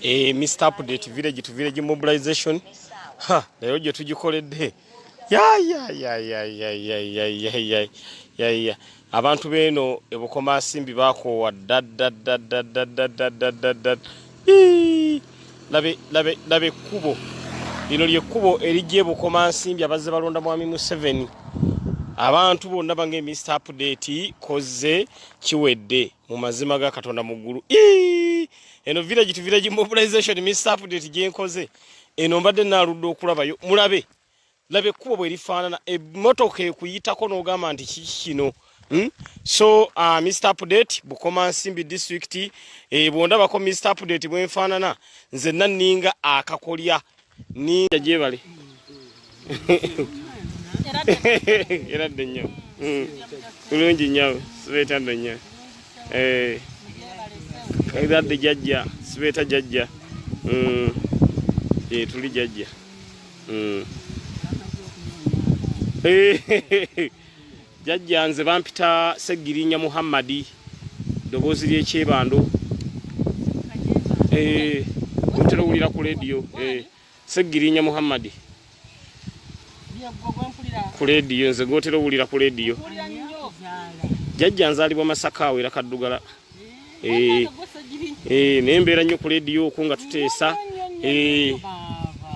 eh, mr update village to village mobilization ha leero gye tugikoledde abantu beeno ebukomasimbi bakoowa dadadadadadadadadadadad laba ekkubo lino lyekkubo erijja ebukomansimbi abazze balonda mwami museveni abantu bonna bange mr update kozze kiwedde mu mazima ga katonda mu ggulu eno village to village mobilization mr update gyenkoze eno mbadde naaludde okulabayo mulabe laba ekkubo bwe lifaanana emmotoka ekuyitako n'ogamba nti kiki kino Hmm? so uh, mr update bukoma nsimbi district e, bwondabako mr update bwenfaanana nze nanninga akakolya ninja gyebali eradde nnyo kulungi nnyo sibeetadde nnyo eradde eh. jajja sibeeta jajja mm. eh, tuli jajja mm. eh. Jajja nze bampita Segirinya Muhammadi ddoboozi ly'ekyebando eh, ntera owulira ku lediyo eh, Segirinya Muhammadi ku lediyo nze gotera owulira ku lediyo jajja nzalibwa masaka awo era kaddugala eh, naye mbeera nnyo ku lediyo oku nga tuteesa eh,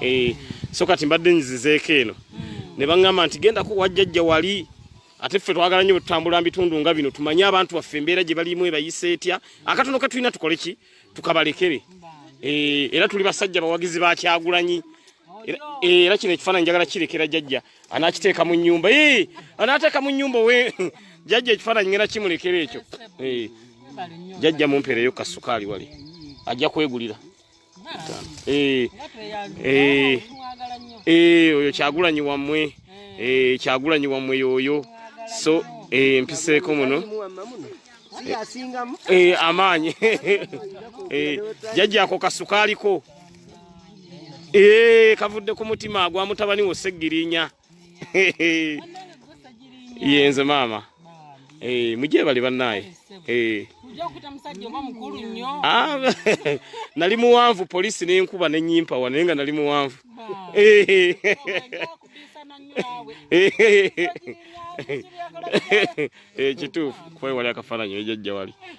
eh, so kati mbadde nyizizeeko eno hmm. ne baŋŋamba nti gendako wajjajja wali ate ffe twagala nnyo bwetutambula mu bitundu nga bino tumanye abantu baffe embeera gye balimu ebayisa etya akatono katulina tukole ki tukabalekere era tuli basajja bawagizi bakyagulanyi era kino ekifaananyi njagala kirekera jajja anakiteeka mu nyumba anateeka mu nyumba we jajja ekifaananyi ngena kimulekera ekyo jajja mumpeereyo kasukaali wali ajja kwegulira oyo kyagulanyi wammwe kyagulanyi wammwe yoyo so mpiseeko muno amaanyi jajja ako kasukaaliko ee eh, kavudde ku mutima agwa mutabani wo segirinya yenze maama ee eh, mujye bali banaye ee ah, nali muwanvu polisi nenkuba nenyimpa wa naye nga nali muwanvu ee kituufu kwewali akafaananyi ejajja wali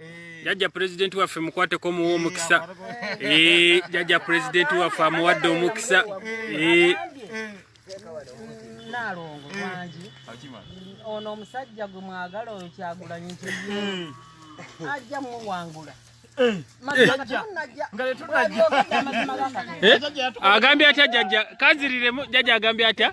Eh. jajja pulezidenti waffe mukwateko omuwa omukisa eh. Eh, jajja pulezidenti waffe amuwadde omukisa nalongo wangi ono omusajja gwe mwagala oyo kyagulanyi ajja muwangula agambye atya jajja kaziriremu jajja agambye atya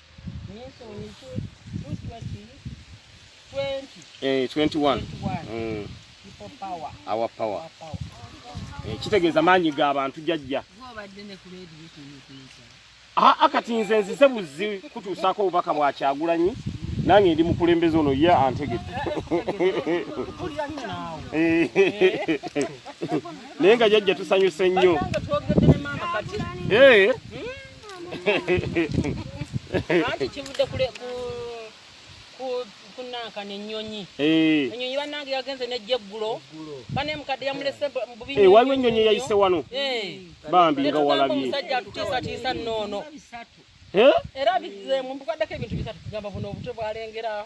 Minsoni 220, 20, Eh, 21 21. Mm, People power. our power Our power. Eh, kitegeeza maanyi ga bantu jajja Gwobadde ne ku leediyo tunyukunza. aa kati nze nzize buzzi kutuusaako obubaka bwa kyagulanyi nange ndi mukulembeze ono ye antegedde Mpulira nnyo naawe. Eh, naye nga jajja tusanyuse nnyo Bannange twogedde ne maama kati. Eh, anti kivudde kule ku ku kunanka ne nyonyi eh nyonyi banange yagenze ne jeggulo bane mukadde yamulese bubi eh waliwo nyonyi yayise wano eh bambi nga walabi musajja tutisa tisa nono eh era bize mu mbukadde ke bintu bisatu kugamba buno obutwe bwalengera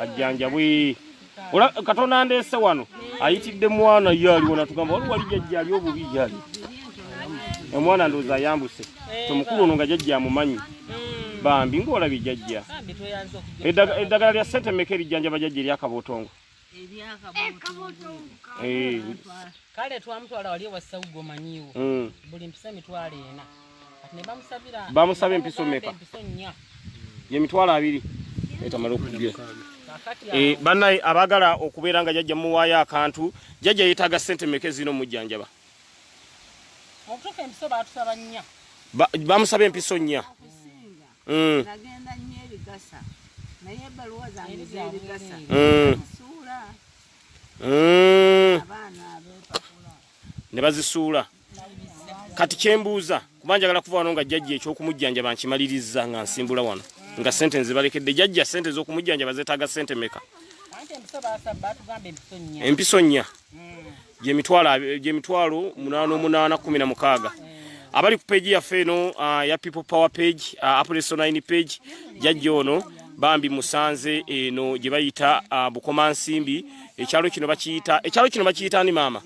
ajjanjabwe ola katonda ndeese wano ayitidde mwana ye aliwo natugamba wali wali jajja ali obubi yali omwana ndowooza ayambuse tomukulu ono nga jajja amumanyi bambi ngaolabye jajja eddagala lya sente meka erijjanjaba jajja eryakabootongo kale twamutwala wali ewasaugomanyiwo mm. buli mpisa emitwalo ena bamusaba empiso meka yemitwalo abiri etamala okujja eh, banaye abagala okubeera nga jajja muwaayo akantu jajja yetaaga sente meka ezina omujjanjaba bamusaba empiso nnya mm. mm. mm. ne bazisuula kati kyembuuza kuba njagala kuva wano nga jjajja ekyokumujjanjaba nkimaliriza nga nsimbula wano nga sente nzibalekedde jjajja sente ezokumujjanjaba zetaaga sente meka empiso nnya gyemitwalo munaana omunaana kumi na mukaaga abali ku peegi yaffe eno ah, ya people power page ah, apresonine page jajja ono bambi musanze eno gye bayita ah, bukomansimbi ekyalo kino bakiyita ekyalo kino bakiyita ni maama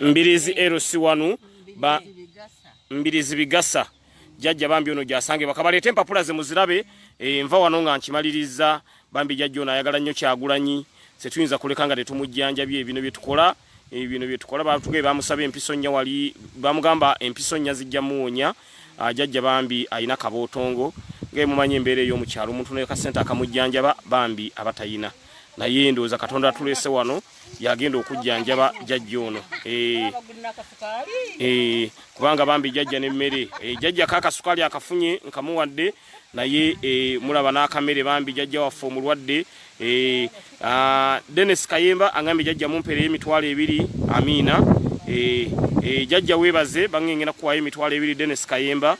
mbirizi lc wanu ba mbirizi bigasa jajja bambi ono gyasange bakabaleeta empapula ze muzirabe e, nva wano nga nkimaliriza bambi jajja ono ayagala nnyo kyagulanyi setuyinza kuleka nga tetumujjanjabi ebino byetukola e, bino byetukola batugae bamusaba empiso nnya wali bamugamba empiso nnya zijja muwonya jajja bambi alina kabootongo ngaemumanyi embeera ey'omukyalo omuntu nekassente akamujjanjaba bambi abatayina naye ndowooza katonda atulese wano yagenda okujjanjaba jajja ono eh. Eh, kubanga bambi jajja nemmere eh, jajja kakasukaali akafunye nkamuwadde naye mulaba n'akamere bambi jajja waffe omulwadde ah, denis kayemba angambye jajja mumpereyo emitwalo ebiri amiina jajja webaze bangengena kuwayo emitwalo ebiri denis kayemba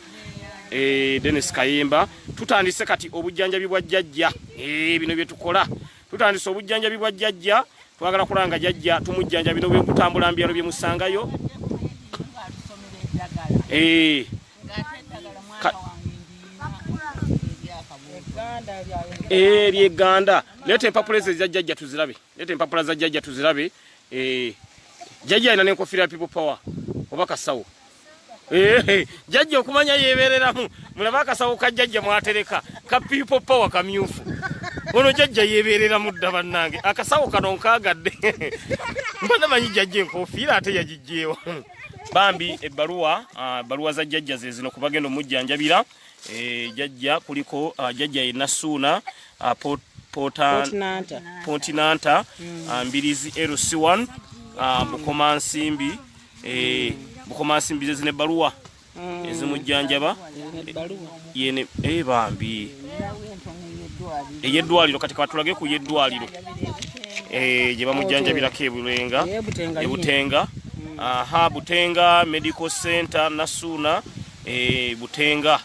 eh, Dennis Kayimba tutandise kati obujjanjabi bwa jjajja eh, bino bye tukola tutandise obujjanjabi bwa jjajja twagala kulanga jjajja tumujjanjabi no bwekutambula mbyalo bye musangayo eh. ebyeganda leeta empapula ezo eza jjajja tuzirabe leeta empapula za jjajja tuzirabe jjajja alina nenkofira ya people power oba kasawo jajja okumanya yebereramu mulaba akasawo ka jajja mwatereka ka people power kamyufu ono jajja yebereramu dda bannange akasawo kano nkagadde mbana manyi jajja enkofiira ate yagijjeewa bambi ebbaluwa ah, ebbaluwa za jajja zezino kubagenda omujjanjabira eh, jajja kuliko ah, jajja yenna suuna ah, pontinanta mm. mbirizi lc1 bukomansimbi Eh, bukoma nsimbi ze zine baluwa mm. ezimujjanjaba yene eh, bambi eyeddwaliro kati kabatulage ku yeddwaliro eh, gye bamujjanjabirako ebulenga ebutenga mm. aha butenga medical center nasuuna butenga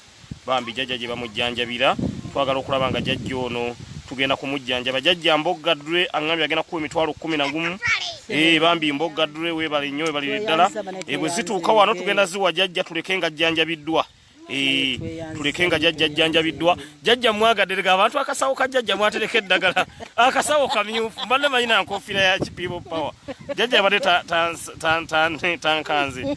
bambi jajja gye bamujjanjabira twagala okulaba nga jajja ono tugenda kumujjanjaba jajja mbogga dre aŋambye agenda kukuwa emitwalo kumi na gumu eh, bambi mbogga dre webale nnyo webalire ddala eh, bwe zituuka wano tugenda ziwa jajja tuleke nga jjanjabiddwa eh, tuleke nga jajja jjanjabiddwa jajja mwagaderega abantu akasawo ka jajja mwatereka eddagala akasawo kamyufu mbadde manyi na nkofiira ya kipibo power jajja abadde tankanze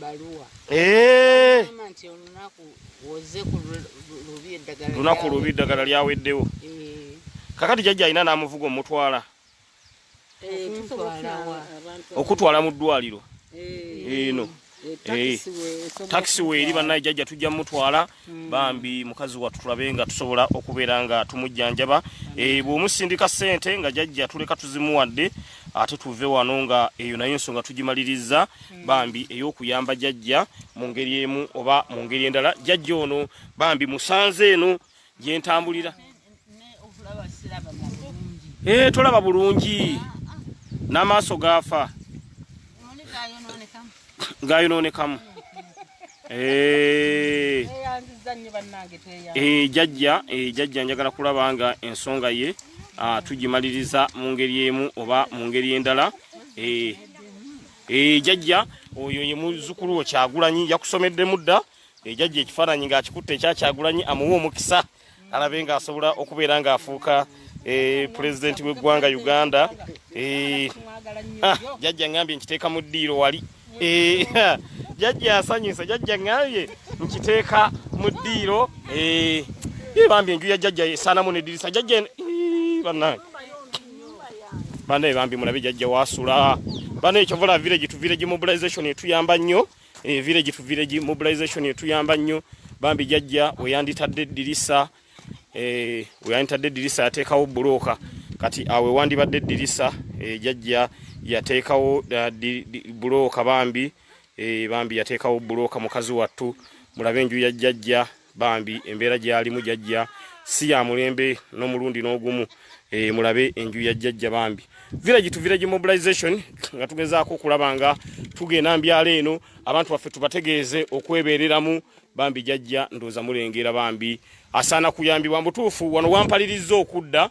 baluwa eh nti olunaku woze ku lubi eddagala lunaku lubi eddagala lyaweddewo eh. kakati jajja alina n'amuvuga omutwala eh, okutwala mu ddwaliro eh. eno takisi weeri bannaye jajja tujja mutwala Hmm. bambi mukazi wattu tulabe nga tusobola okubeera nga tumujjanjaba eh, bw'omusindika ssente nga jajja tuleka tuzimuwadde ate tuve wano nga eyo nayo ensonga tugimaliriza hmm. bambi ey'okuyamba jajja mu ngeri emu oba mu ngeri endala jajja ono bambi musanze eno gyentambulira Eh, tolaba bulungi n'amaaso gaafa gaayonoonekamu eh. eh, jajja eh, jajja njagala kulaba nga ensonga ye ah, tugimaliriza mu ngeri emu oba mu ngeri endala jajja oyo ye muzzukulu wo kyagulanyi yakusomeddemu dda jajja ekifaananyi ng'akikutte ekyakyagulanyi amuwa omukisa alabe nga asobola okubeera nga afuuka eh, pulezidenti w'eggwanga uganda eh, ah, jajja ngambye nkiteeka mu ddiiro wali eh, jajja asanyuse jajja ngambye nkiteeka mu ddiiro bambi enju ya jajja esaanamu nedirisa jajja banange banaye bambi mulabe jajja wasula banaye kyovola village tu village mobilization etuyamba nnyo eh, village to village mobilization etuyamba nnyo bambi jajja weyanditadde eddirisa eh, weyanditadde eddirisa yateekawo bulooka kati awe wandibadde eddirisa eh, jajja yateekawo bulooka bambi bambi yateekawo bulooka mukazi wattu mulabe enju ya jajja bambi embeera gyalimu jajja si ya mulembe n'omulundi n'ogumu e, mulabe enju ya jajja bambi village to village mobilization nga tugezaako okulaba nga tugenda mbyalo eno abantu baffe tubategeeze okwebeereramu bambi jajja ndooza mulengera bambi asaana kuyambibwa mbutuufu wano wampalirizza okudda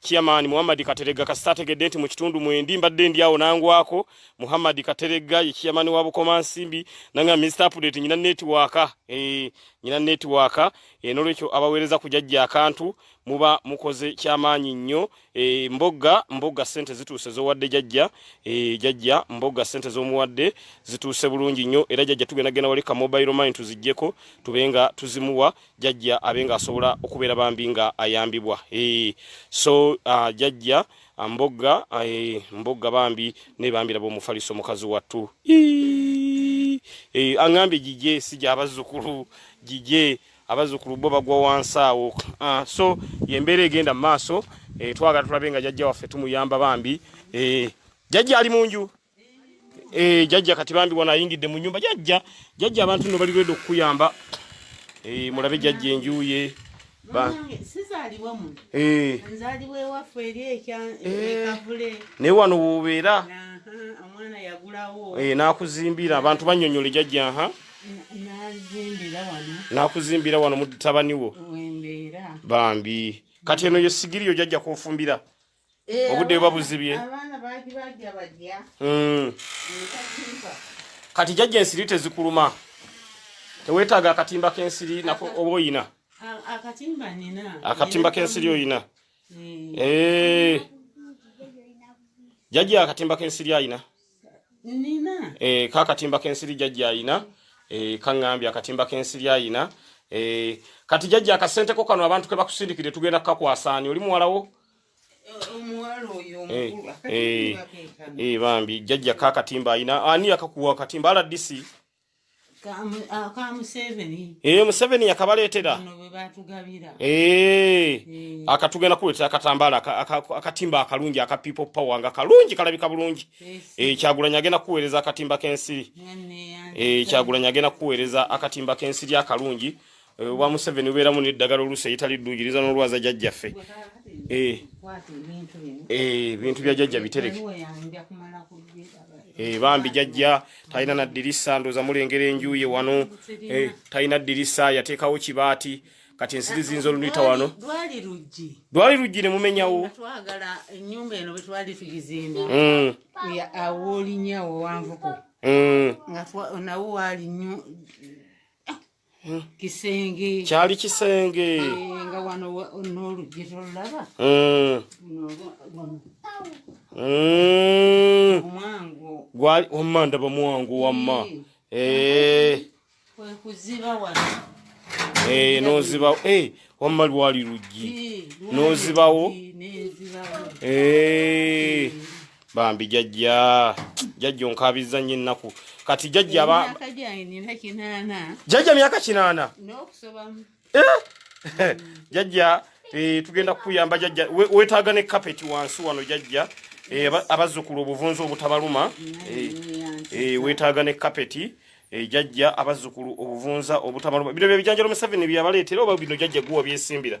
Chairman Muhammad Katerega kasita ategedde nti mu kitundu mwendi mbadde ndi awo nangwako Muhammad Katerega ye chairman wa Bukoma Nsimbi nanga Mr Update nyina network eh nyina network eh nolwekyo abawereza kujajja akantu muba mukoze kyamaanyi nnyo eh mbogga mbogga sente zituuse zowadde jajja eh jajja mbogga sente zomuwadde zituuse bulungi nnyo era jajja tugenda gena wali ka mobile mine tuzijjeko tubenga tuzimuwa jajja abe nga asobola okubeera bambi nga ayambibwa e, so uh, jajja ah, mbogga e, mbogga bambi nebambiraba omufaliso mukazi wattu e, aŋambye gigye si gyabazzukulu gigye abazzukulu bo bagwa wansi awo uh, so yembeera egenda mu maaso e, twagala tulabe nga jajja waffe tumuyamba bambi e, jajja ali mu nju Eh, jajja kati bambi wana ayingidde mu nyumba jajja jajja abantu no bali redo kuyamba eh mulabe jajja enjuye ba sizaliwa mu eh nzaliwe wafu eri ekya eh. ekavule ne wano wubera amwana yagulawo eh nakuzimbira abantu banyonyole jajja ha nazimbira wano nakuzimbira wano mutabani wo wembera bambi kati eno yo sigiriyo jajja kofumbira Eh, obudde buba buzibye hmm. kati jajja ensiri tezikuluma tewetaaga akatimba kensiri nako oba oyina akatimba kensiri oyina hmm. eh. jajja akatimba kensiri ayina eh, kakatimba kensiri jajja ayina kaŋambye akatimba kensiri ayina kati jajja akasenteko kano abantu kebakusindikire tugenda kukakwasaani oli muwalawo Eh, eh, eh, bambi jajja ka katimba ayina ani yakakuwa katimba rdc ee museveni yakabaleetera akatugenda kuleetera akatambaala akatimba akalungi aka people power nga kalungi kalabika bulungi kyagulanyi agenda kuweereza akatimba k'ensiri kyagulanyi agenda kuweereza akatimba k'ensiri akalungi Eh, obwa museveni ubeeramu neddagala oluusi eyitali ddugiriza n'olwaza jajjaffe eh. eh, ebintu bya jajja bitereke bambi jajja talina naddirisa ndooza mulengera enjuye wano talina ddirisa yateekawo kibaati kati ensiri ziyinza oluluyita wano lwali luggi ne mumenyawo hmm. kisenge kyali kisenge eh, nga wano n'oluggi tolulaba hmm. gwali wamma ndaba mwangu wamma kwekuziba wano Eh, nozibawo eh, wamma lwali luggi nozibawo eh, bambi jajja jajja onkabiza nyo ennaku kati jajja jajja myaka kinaana eh? jajja eh, tugenda kukuyamba jajja wetaaga ne kapeti wansi wano jajja Eh, abazzukulu obuvunzi obutabaluma eh, eh, wetaaga ne kapeti jajja abazzukulu obuvunza obutabaluma bino byebijanjalo museveni byeyabaleetera oba bino jajja guwa byesimbira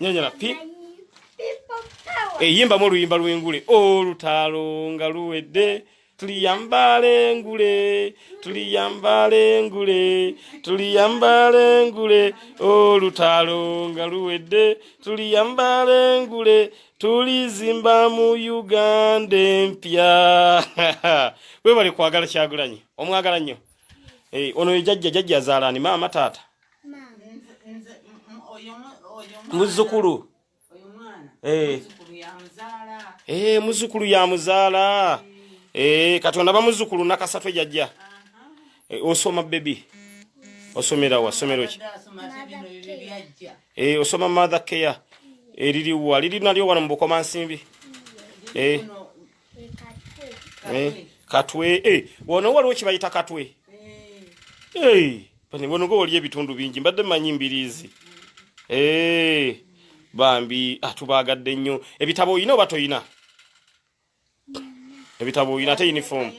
nyanyala pi eyimbamu oluyimba lw'engule olutaalo nga luwedde tuliyambala engule tuliyambala engule tuliyambala engule olutaalo nga luwedde tuliyambala engule tulizimba mu uganda empya webale kwagala kyagulanyi omwagala nnyo eh, ono ye jajja jajja azaalani maama taata muzukulu muzukulu ya muzaala eh, eh, kati onaba muzukulu nakasatu ejajja eh, osoma bebi osomera wa somero ki eh osoma mother care eririwa liri nalyo wano mubukoma nsimbi eh Eh, katwe eh, wano waliwo kibayita katwe eh. bonoga waliyo ebitundu bingi mbadde manyi mbiriizi bambi atubaagadde ah, nnyo ebitabo olina oba tolina ebitabo olina ate unifoomu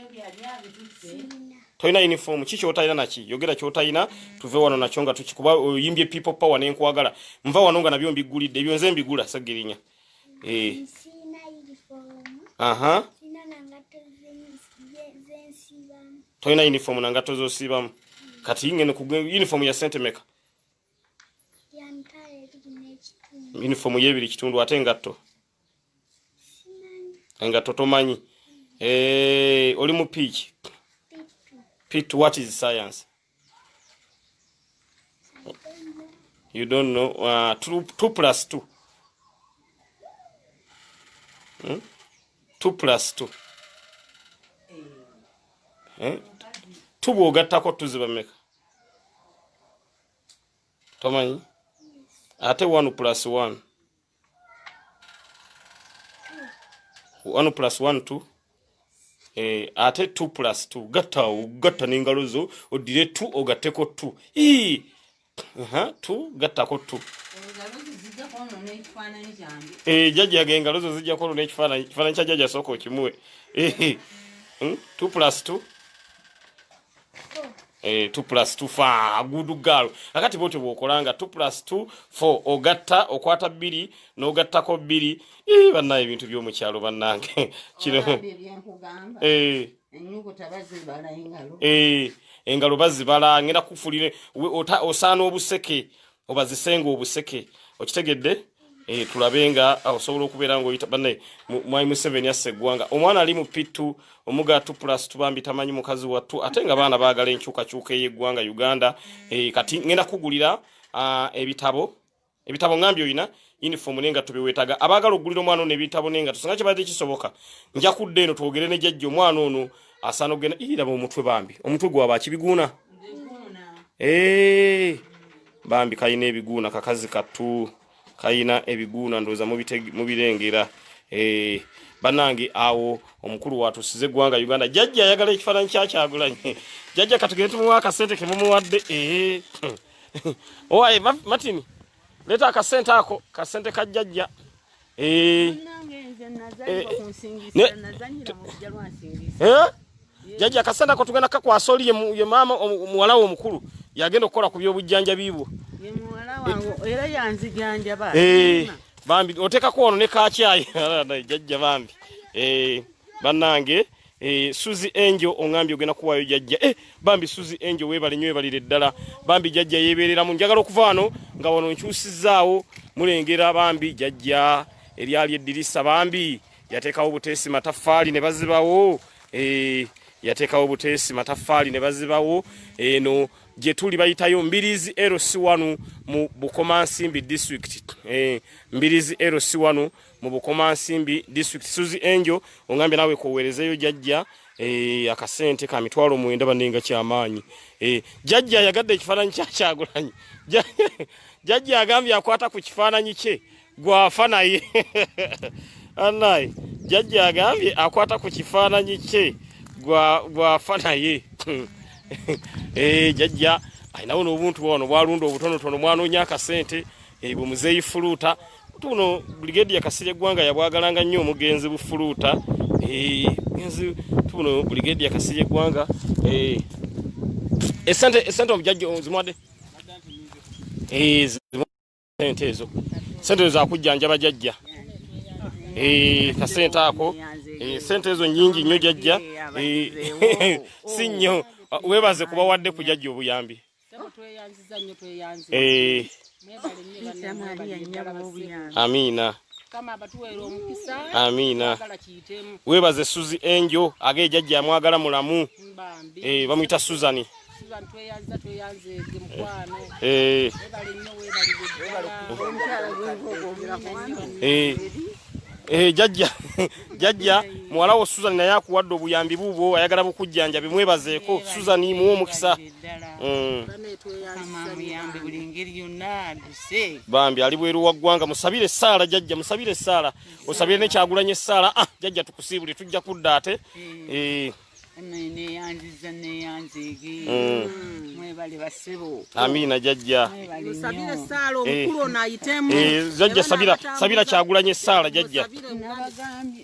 tolina unifoomu ki kyotalina naki yogera kyotalina tuve wano nakyo nga tukikuba oyimbye people power nenkwagala nva wano nga nabyo mbiggulidde ebyo nze mbigula segirinya Eh. Aha. Toyina uniform na ngatto z'osiibamu. Kati ng'eno ku uniform ya sente meka? Uniform y'ebiri kitundu ate engatto? Engatto tomanyi. Eh, oli mu piiki? Piiki what is science? you don't know uh, two, two plus two hmm? two plus two eh? two bwogattako tuziba meka tomanyi ate one plus one one plus one two eh, ate two plus two gatta ogatta n'engalo zo oddire two ogatteko two ii uh -huh, two gattako two eh, jajjaga engalo zo zijja kwonona ekifaananyi ekifaananyi kya jajja sooka okimuwe eh, eh. hmm? two plus two Eh, two plus two fa good girl akati bwotyo bwokolanga two plus two four ogatta okwata bbiri n'ogattako bbiri ii bannaye ebintu by'omukyalo bannange kino eh. eh, engalo bazibala ngenda kufulire osaana obuseke obazisenga obuseke okitegedde eh, tulabe nga ah, osobola okubeera ngaoyita bane mwai museveni assa eggwanga omwana ali mu pittu omuga t plus tubambi tamanyi mukazi wattu ate nga baana baagala enkyukakyuka ey'eggwanga uganda eh, kati ngenda kugulira ah, ebitabo ebitabo ngambi olina uniform ne ngatto byewetaaga abaagala okugulira omwana ono ebitabo ne ngatto singa kibadde kisoboka nja kudda eno twogere ne jajja omwana ono asaana okugenda iraba omutwe bambi omutwe gwaba kibiguuna eh, bambi kalina ebiguuna kakazi kattu kalina ebiguuna ndowooza mubirengera eh, banange awo omukulu watusize eggwanga uganda jajja ayagala ekifaananyi kyakyagulanye jajja katugende tumuwa akasente kemumuwadde eh, owaye martin Leta akasente ako, kasente ka jajja. Eh. Eh. eh. Jajja kasente ako tugenda kakwasa oli ye mama muwala wo mukulu. Yagenda okukola ku byobujjanja biibwo. Ye muwala wangu eh. era yanziganja ba. Eh. Bambi oteka kuono ne ka chai. Jajja bambi. Eh. Banange. Eh, Suzi Angel ongambye ogenda kuwayo jajja. Eh, bambi Suzi Angel webale nyo ebalire ddala. Bambi jajja yeberera mu njagala okuva wano nga wano nkyusizaawo mulengera bambi jajja eryali eddirisa bambi yatekawo buteesi mataffaali ne bazibawo. Eh, yatekawo buteesi mataffaali ne bazibawo. Eno eh, gye tuli bayitayo Mbirizi LC1 mu Bukomansimbi district. Eh, Mbirizi LC1 mu bukomansimbi district suzi angel ongambye nawe kowerezeyo jajja eh, akasente ka mitwalo mwenda banenga kyamaanyi eh, jajja yagadde ekifaananyi kyakyagulanyi jajja agambye akwata ku kifaananyi kye gwafa naye anaye jajja agambye akwata ku kifaananyi kye gwafa naye eh, jajja alinawo nobuntu wano bwalunda obutonotono mwanonya akasente Eyi bwe muzeeyi fuluuta tuno Brigadier Kasirye Ggwanga yabwagalanga nnyo omugenzi bufuluuta eh, mugenzi tuno Brigadier Kasirye Ggwanga eh, esente esente omujajja ozimwadde eh, sente ezo sente ezo zakujjanjaba jajja kasente ako sente ezo nyingi nnyo jajja si nnyo webaze kubawadde kujajja obuyambi Eh. amiina amiina webaze suzi enjo age ejajja amwagala mulamu eh, bamuyita suzani eh. jajja jajja muwalawo suzani naye akuwadde obuyambi buubwo ayagala bukujjanja bimwebazeeko suzani muwe omukisa bambi ali bweru wa ggwanga musabire essaala jajja musabire essaala osabire ne kyagulanya essaala ah jajja tukusiibule tujja kudda ate eh. neyanziza neyanzege mm. mwebale basebo amina jajja sabira esala omukulu eh. onayitemu eh, jajja sabira sabira kyagulanye esala jajja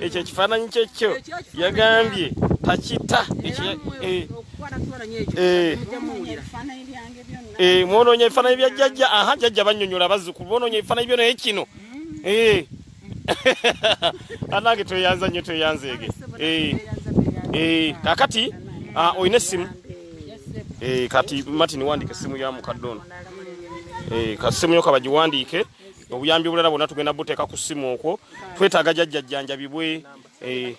ekyo ekifaananyi kyekyo yagambye takita mwononya ebifaananyi bya jjajja aha jjajja banyonyola bazzukulu bononya ebifaananyi byo naye kino eh. anange tweyanza nnyo tweyanzeege eh. eh, kakati ah, olina essimu kati martin wandika essimu ya mukadde ono kasimu yo kabagiwandiike obuyambi obulala bwonna tugenda buteeka ku ssimu okwo twetaaga jajjajjanjabibwe eh,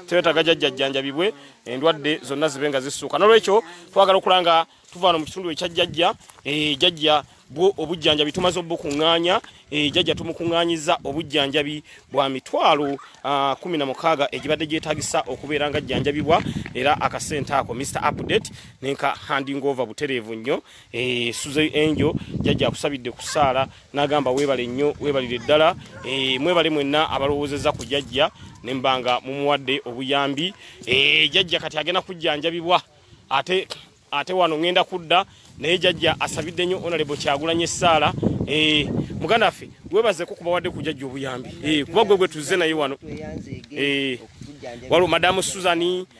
twetaaga jajjajjanjabibwe endwadde zonna zibe nga zissuuka nolwekyo twagala okulaba nga tuvaano mu kitundu ekya jajja eh, jajja bwo obujjanjabi tumaze obukuŋŋaanya eh, jajja tumukuŋŋaanyiza obujjanjabi bwa mitwalo ah, kumi na mukaaga egibadde gyetagisa okubeera nga jjanjabibwa era akasente ako mr update nenka handing over butereevu nnyo Eh, suze angel jajja akusabidde ku saala nagamba webale nnyo webalire ddala eh, mwebale mwenna abalowoozeza ku jajja nembanga mumuwadde obuyambi eh, jajja kati agenda kujjanjabibwa ate ate wano ŋenda kudda naye jajja asabidde nnyo onalebo kyagulanye essaala muganda ffe webazeko kubawadde ku jajja obuyambi kuba gwe gwe tuzze naye wano waliwo madamu suzani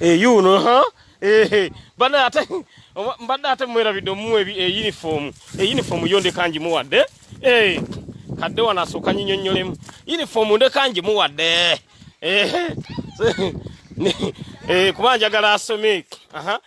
eyuuno eh, ha ehe bana ate mbadde ate mwerabidde omuwa eyunifoomu eh, eyunifoomu eh, yo ndeka ngimuwadde ee kadde wano asooka nyinyonyolemu yunifoomu ndeka ngimuwadde ehe kuba njagala asome aha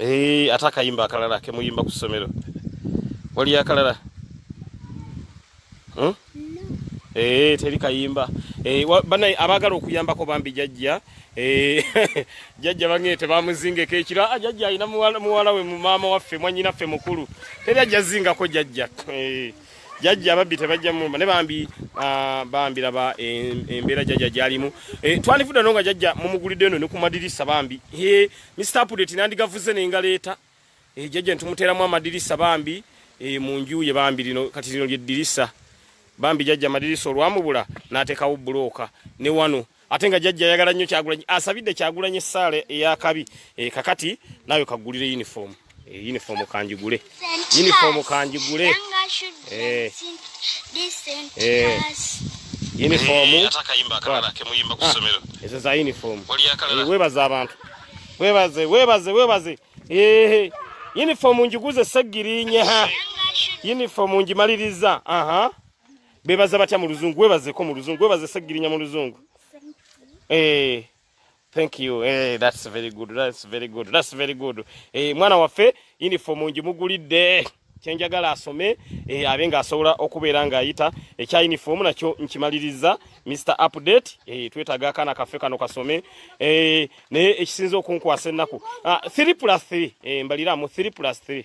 Eee, eh, ate akayimba akalala kemuyimba ku ssomero waliyo akalala hmm? Eee, eh, teri kayimba Eee, eh, bana abagala okuyambako bambi jajja Eee, jajja bange tebamuzingeko ekira ah, jajja alina muwala we mu maama waffe mwanyina ffe mukulu teri ajja zingako jajja Eee jajja ababbi tebajja mumba ne bambi ah, bambi laba embeera jajja gyalimu eh, twandifudde no nga jajja mumugulidde eno ne ku madirisa bambi Mr. Update nandigavuze ne ngaleeta ejjaja eh, ntumuteeramu amadirisa bambi eh, mu nju ye bambi lino kati lino lyeddirisa bambi jajja amadirisa olwamubula n'ateekawo bbulooka ne wano ate nga jajja ayagala nnyo kyagulanyi asabidde kyagulanyi essaala ey'akabi eh, kakati naawe kaggulire yunifoomu Eh, uniform kanjigule uniform kanjigule eh. eh. uniform ezo za uniform webaze abantu webaze webaze webaze uniform njiguze segirinye ha uniform njimaliriza aha bebaza batya mu luzungu webazeko mu luzungu webaze segirinya mu luzungu eh Thank you. Hey, eh, that's very good. That's very good. That's very good. Hey, eh, mwana waffe uniform njimugulidde kyenjagala asome e, abe nga asobola okubeera nga ayita ekya uniform nakyo nkimaliriza Mr update e, twetaga akana kafe kano kasome e, naye ekisinza okunkwasa ennaku 3 ah, plus 3 e, mbaliramu 3 plus 3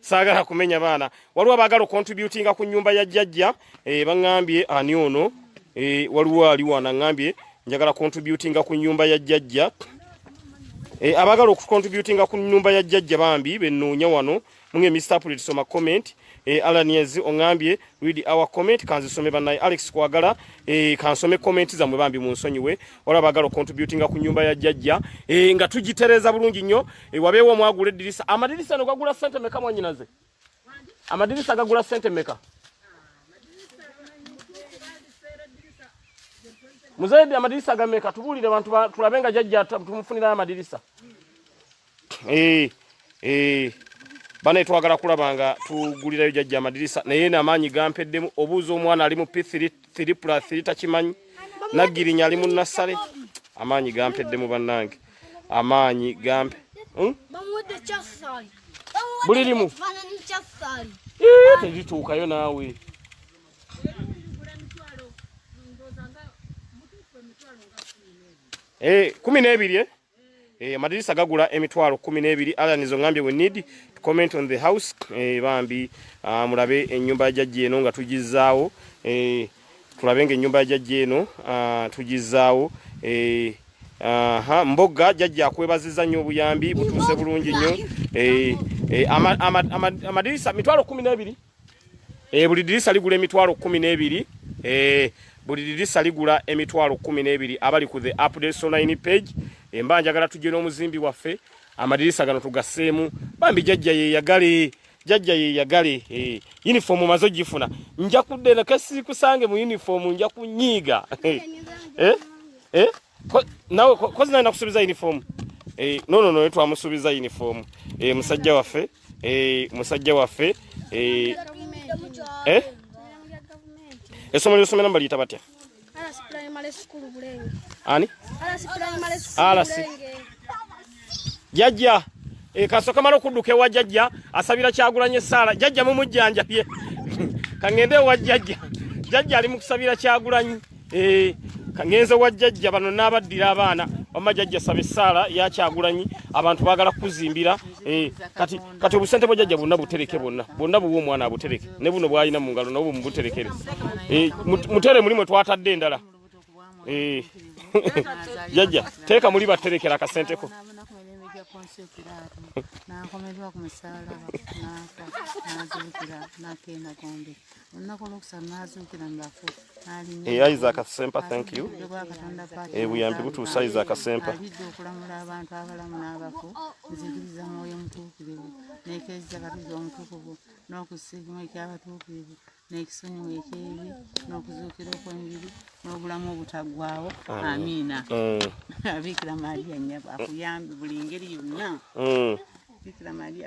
saagala kumenya baana waliwo abaagala okontributinga ku nyumba ya jjajja eh, baŋambye ani ono eh, waliwo aliwo anaŋambye njagala kontributinga ku nyumba ya jjajja eh, abaagala okukontributinga ku nyumba ya jjajja bambi benoonya wano munge mr pulitsoma comment alanies oŋambye read our comment kanzisome banaye alex kwagala eh, kansome comment zamwe bambi munsonyiwe wala bagala contributinga ku nyumba ya jajja eh, nga tujitereza bulungi nyo eh, wabewo mwagula edirisa amadirisa no gagula sente meka mwanyinaze amadirisa gagula sente meka muzaidi amadirisa gameka tubulire bantu tulabenga jajja tumufunira amadirisa Eh, eh. bana twagala kulaba nga tugulirayo jajja amadirisa naye namaanyi gampeddemu obuuza omwana ali mu p3 plus 3 takimanyi naggirinya ali mu nassale amaanyi gampeddemu bannange amaanyi gampe hmm? buli limu terituukayo naawe eh, kumi n'ebiri eh? Eh, amadirisa gagula emitwalo kumi n'ebiri alanizo ngambye we need to comment on the house eh, bambi ah, mulabe enyumba ya jajja eno nga tugizaawo eh, tulabe nga enyumba ya jajja eno ah, tugizaawo eh, aha mboga jajja akwebaziza nnyo obuyambi butuuse bulungi nnyo eh, eh, amadirisa ama, ama, ama, mitwalo kumi n'ebiri Eh, buli dirisa ligula emitwalo kumi n'ebiri eh, buli dirisa ligula emitwalo kumi n'ebiri abali ku the updates online page emba eh, njagala tujje n'omuzimbi waffe amadirisa gano tugaseemu bambi jajja yeyagale jajja yeyagale eh, uniform maze ogifuna nja kudde nakasikusange mu uniform nja kunyiiga eh, eh? nawe kozi naye nakusubiza uniform eh no no no yetu amusubiza uniform eh musajja wafe eh musajja wafe eh eh esomo lyo somera mbali tabatya ala si primary school bulenge ani ala si primary school bulenge jajja e, kasoka mala okuduka ewa jajja asabira kyagulanye sala jajja mumujjanja pye kangende ewa jajja jajja ali mukusabira kyagulanye e, kangenze wa jajja bano nabaddira abaana wamma jajja saba essaala yakyagulanyi abantu bagala kukuzimbira eh, kati kati obusente bwa jajja bwonna butereke bwonna bwonna buwa omwana abutereke ne buno bwalina mu ngalo nabwo mumubuterekere eh, mutere mulimu twatadde endala Eh. jajja teeka muli baterekera akasente ko nakomedwa ku musalaba nafa nazuukira nakenda gombe olunaku olwokusanu nazuukira mubafu eh, isaac sempa thank you eh, buyambi butuusa isaac sempa alidde okulamula abantu abalamu n'abafu nzikiriza mwoyo mutuukirivu nekeeza katuza omutukuvu n'okusiimu ekyabatuukirivu n'ekisonyiwo ekyebi n'okuzuukira okw'enjiri n'obulamu obutaggwawo amiina mm. abiikira maria nyabo akuyambe buli ngeri yonna mm. biikira maria